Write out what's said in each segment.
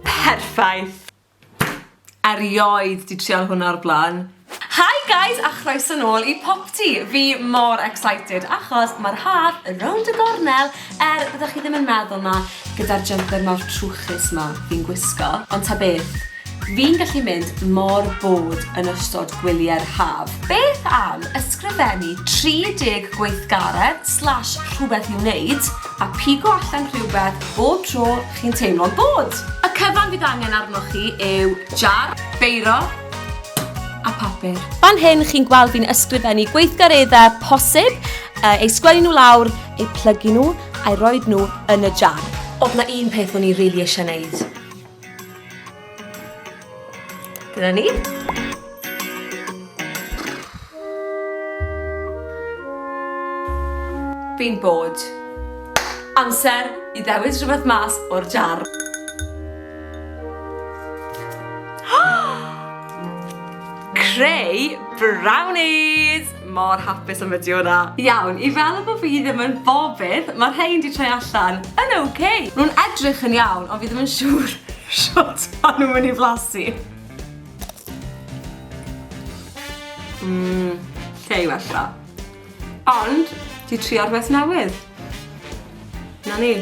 Perffaith! Erioed 'di trial hwnna o'r blaen. Hi guys a chroeso nôl i Popty! Fi mor excited achos ma'r haf rownd y gornel er fyddech chi ddim yn meddwl 'na gyda'r jumper mawr trwchus 'ma fi'n gwisgo ond ta beth Fi'n gallu mynd mor bored yn ystod gwyliau'r haf. Beth am ysgrifennu 30 gweithgaredd slash rhywbeth i'w wneud a pigo allan rhywbeth bob tro chi'n teimlo'n bored? Y cyfan fydd angen arnoch chi yw jar, beiro a papur. Fan hyn chi'n gweld fi'n ysgrifennu gweithgareddau posib, eu sgwennu nhw lawr, eu plygu nhw, a'u rhoi nhw yn y jar. Oedd 'na un peth o'n i rili eisiau 'neud? Dyna ni. Fi'n bod. Amser i ddewis rhywbeth mas o'r jar. Creu brownies! Mor hapus am fideo na. Iawn, i fel bo fi ddim yn bobydd, ma rhein di troi allan yn ok. Nhw'n edrych yn iawn, ond fi ddim yn siŵr shwt ma nhw'n mynd i flasu. Mmm, lle i wella. Ond, di trio rhywbeth newydd. Na ni.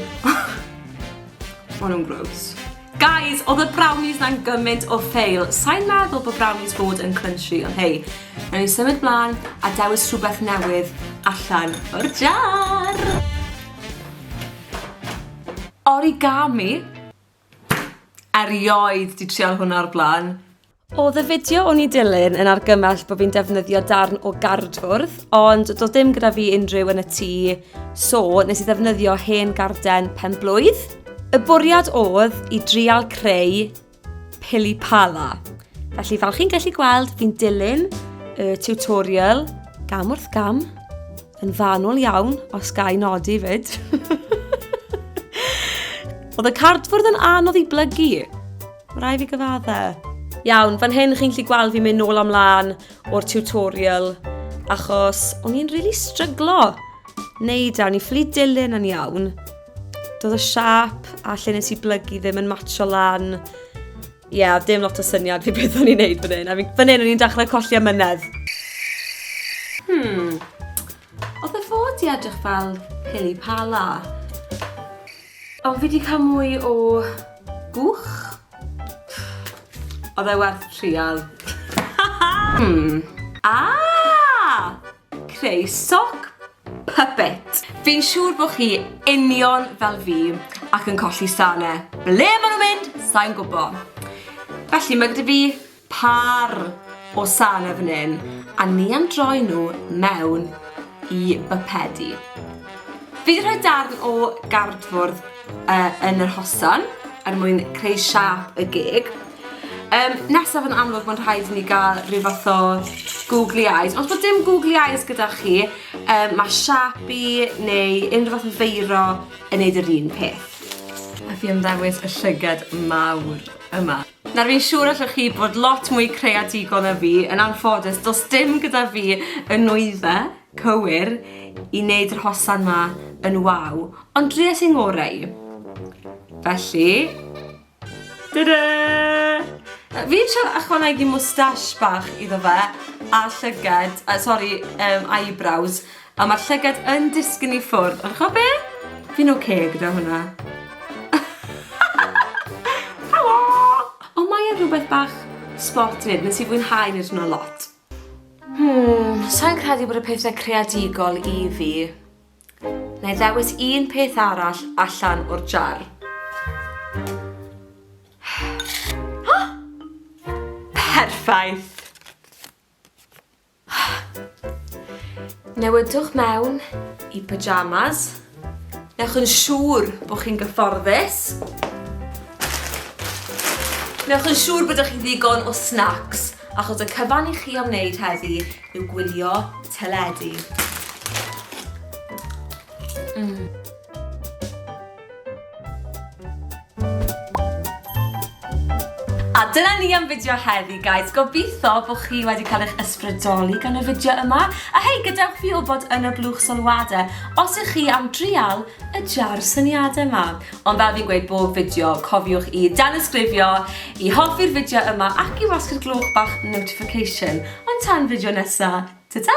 Ma nhw'n gross. Guys, odd y brownies na'n gymaint o fail. Sai'n meddwl bod brownies fod yn crunchy, ond hei. Nawn ni symud mlan a dewis rhywbeth newydd allan o'r jar! Origami? Erioed 'di trial hwnna o'r blaen. Oedd y fideo o'n i dilyn yn argymell bod fi'n defnyddio darn o gardfwrdd, ond doedd dim gyda fi unrhyw yn y tŷ, so nes i ddefnyddio hen garden pen blwydd. Y bwriad oedd i drial creu pili pala. Felly fel chi'n gallu gweld, fi'n dilyn y tutorial gam wrth gam, yn fanwl iawn, os ga i nodi fyd. Oedd y cardfwrdd yn anodd i blygu. Mae rai fi gyfaddau. Iawn, fan hyn chi'n gallu gweld fi'n mynd nôl am lan o'r tutorial achos o'n i'n really stryglo neud e, o'n i'n ffili dilyn yn iawn. Doedd y siap a lle nes i blygu ddim yn matcho lan. Ie, yeah, dim lot o syniad fi beth o'n i'n neud fan hyn. Fan hyn o'n i'n dechrau colli amynedd. Hmm, Oedd dy fod di edrych fel pili pala? O, fi di cael mwy o gwch. Oedd e werth trial. hmm. Ah! Creu soc puppet. Fi'n siŵr bod chi union fel fi ac yn colli sane. Ble maen nhw'n mynd? Sa'n gwybod. Felly mae gyda fi Pâr o sane fan hyn, a ni am droi nhw mewn i bypedi. Fi wedi rhoi darn o gardfwrdd uh, yn yr hosan er mwyn creu siap y gig. Um, nesaf yn amlwg mae'n rhaid i ni gael rhyw fath o googly eyes. Os bod dim googly eyes gyda chi, um, mae Sharpie neu unrhyw fath o feiro yn neud yr un peth. A fi am ddewis y llygad mawr yma. Nawr fi'n siŵr allwch chi bod lot mwy creadigol na fi, yn anffodus does dim gyda fi y nwyddau cywir i wneud yr hosan ma yn waw, ond dries i'n ngorau i. Felly, tada! Fi eisiau ychwanegu moustache bach iddo fe, a llyged, uh, sori, um, eyebrows, A mae'r llygad yn disgyn i ffwrdd. Ond chwa be? Fi'n oce okay gyda hwnna. Helo! Ond mae e'n rhywbeth bach sport nid, nes i fwynhau nid hwnna lot. Hmm, sa'n credu bod y pethau creadigol i fi. Neu ddewis un peth arall allan o'r jar. Perffaith! Newidwch mewn i pyjamas. Newch yn siŵr bod chi'n gyfforddus. Newch yn siŵr bod chi'n ddigon o snacks, achos y cyfan i chi am wneud heddi yw gwylio teledu. Mm. A dyna ni am fideo heddi, guys. Gobeithio bod chi wedi cael eich ysbrydoli gan y fideo yma. A hei, gadewch fi wybod yn y blwch sylwadau os ych chi am drial y jar syniadau yma. Ond fel fi'n gweud bob fideo, cofiwch i danysgrifio, i hoffi'r fideo yma ac i wasgu'r glwch bach notification. Ond tan fideo nesaf, ta-ta!